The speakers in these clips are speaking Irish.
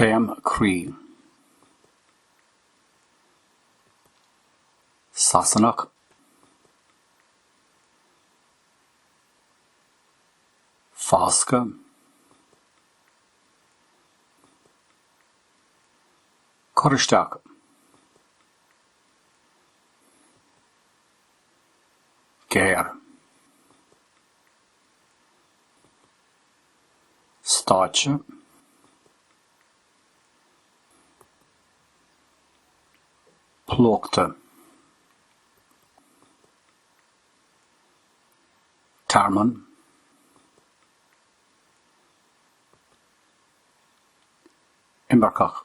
Taom cruinn Sasanach Foscadh Cur isteach. géar. Stáitse plúchta. Tearmann imirceach.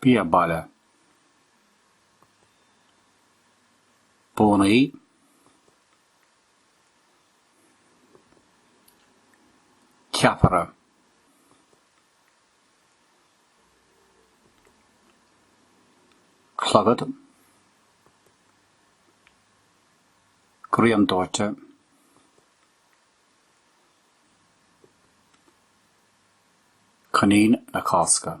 Bia baile, bónaí, ceapaire, clogad, griandóite, Coinín na Cásca.